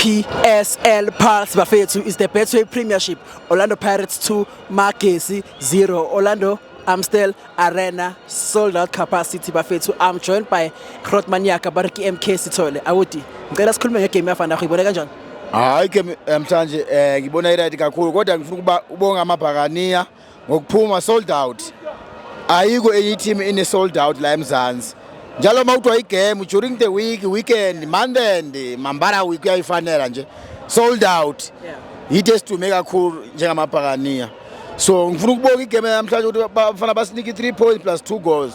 PSL Pulse bafethu is the Betway Premiership. Orlando Pirates 2, Magesi 0. Orlando Amstel Arena sold out capacity bafethu. I'm joined by Grot Maniaka Bariki MK Sithole. Awuti. Ngicela sikhulume ngegame yafana yakho ibona kanjani? Hayi ke namhlanje eh ngibona iright kakhulu kodwa ngifuna ukuba ubonga amabhakaniya ngokuphuma sold out ayikho enye team ine sold out la eMzansi njalo uma kuthiwa igame during the week weekend monday and mambara week uyayifanela nje sold out yitho esidume kakhulu njengamabhakaniya so ngifuna ukubonga igame namhlanje ukuthi bafana basinike i-three points plus two goals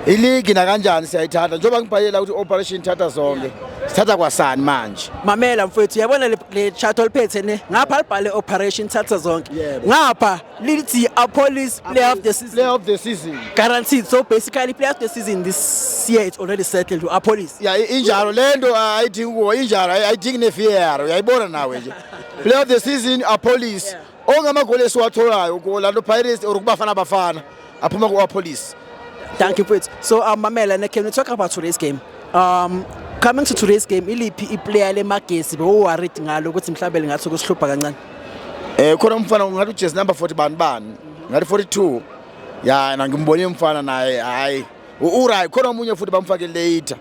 iligi nakanjani siyayithatha njengoba ngibhalela ukuthi operation ithatha zonke sithatha kwasani manje mamela mfethu yabona le chat oliphethe ne ngapha libhale operation thatha zonke ngapha lithi a police play of the season play of the season guaranteed so basically play of the season this year it's already settled to a police yeah injalo lento ah, ayidingi kuwo injalo ayidingi ne VAR uyayibona nawe nje play of the season a police ongamagoli esiwatholayo kuwo lanto Pirates or kubafana bafana aphuma ku police thank you mfethu so um mamela ne can we talk about today's game um coming to today's game iliphi iplayer lemagesi bewuworried ngalo ukuthi mhlawumbe lingathi kusihlupha kancane eh khona umfana ngathi ujazz number 40 bani bani ngathi 42 ya na ngimbone umfana naye hayi uRay khona omunye futhi bamfake later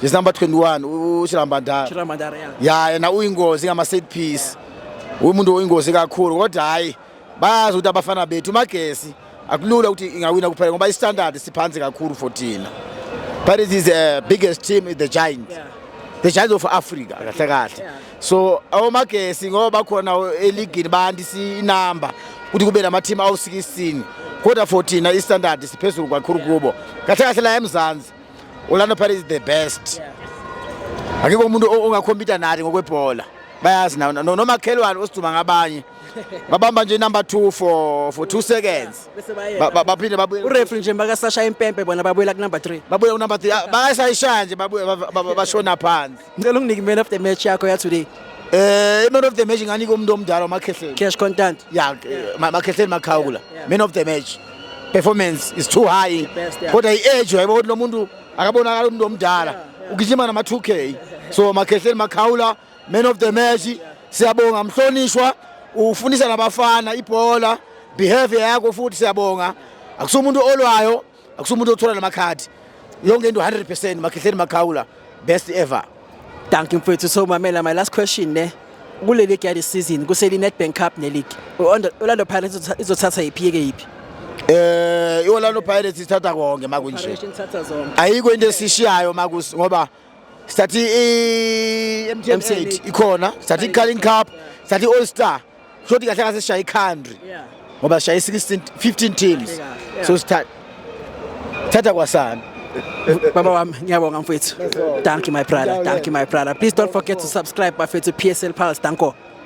Yes number 21 uShirambandara. Shirambandara yeah. Yeah yena uyingozi ngama set piece. Umuntu oyingozi kakhulu kodwa hayi bayazi ukuthi abafana bethu magesi akulula ukuthi ingawina kuphela ngoba istandard siphansi kakhulu for thina Paris is the biggest team in the giant yeah. the giant of Africa kahle kahle yeah. so awomagesi ngoba bakhona eligini bantu sinamba ukuthi kube nama team awu 16 kodwa for thina istandard siphezulu kakhulu kubo kahle kahle la eMzansi Orlando Paris is the best akekho umuntu ongakhompita nathi ngokwebhola bayazi nawo nomakhelwane osiduma ngabanye babamba nje number 2 for for 2 seconds baphinde babuye ureferee nje makasasha impempe bona babuyela ku number 3 babuye ku number 3 ah, bayasayishaya nje babuye bashona phansi ngicela unginike man of the match yakho ya today Eh, man of the match nganika umuntu omdala uMakhehleni. Cash content. Yeah, eh, Makhehleni Makhawula. Man of the match. Performance is too high. Kodwa i-age yabo ukuthi lo muntu akabonakala umuntu omdala. Ugijima nama 2K. So Makhehleni Makhawula Man of the match siyabonga mhlonishwa ufundisa nabafana ibhola behavior yakho futhi siyabonga akusuke umuntu olwayo akusuke umuntu othola namakhadi yonke into 100% makhehleni makhawula best ever thank you mfethu so mamela my last question ne kule league yale season kuseli Nedbank Cup ne league Orlando Pirates izothatha iphi ke iphi eh iOrlando Pirates ithatha konke makunje ayikho into esishiyayo makusi ngoba sathi i-mtn8 ikhona sathi i-carling cup sathi i-all star kusho ukuthi kahle kahle sishaya i-country ngoba sishaya i-16 15 teams so sithatha thatha kwasana Baba wami ngiyabonga mfethu. Thank you my brother. Thank you my brother. Please don't forget to subscribe bafethu PSL Pulse. Danko.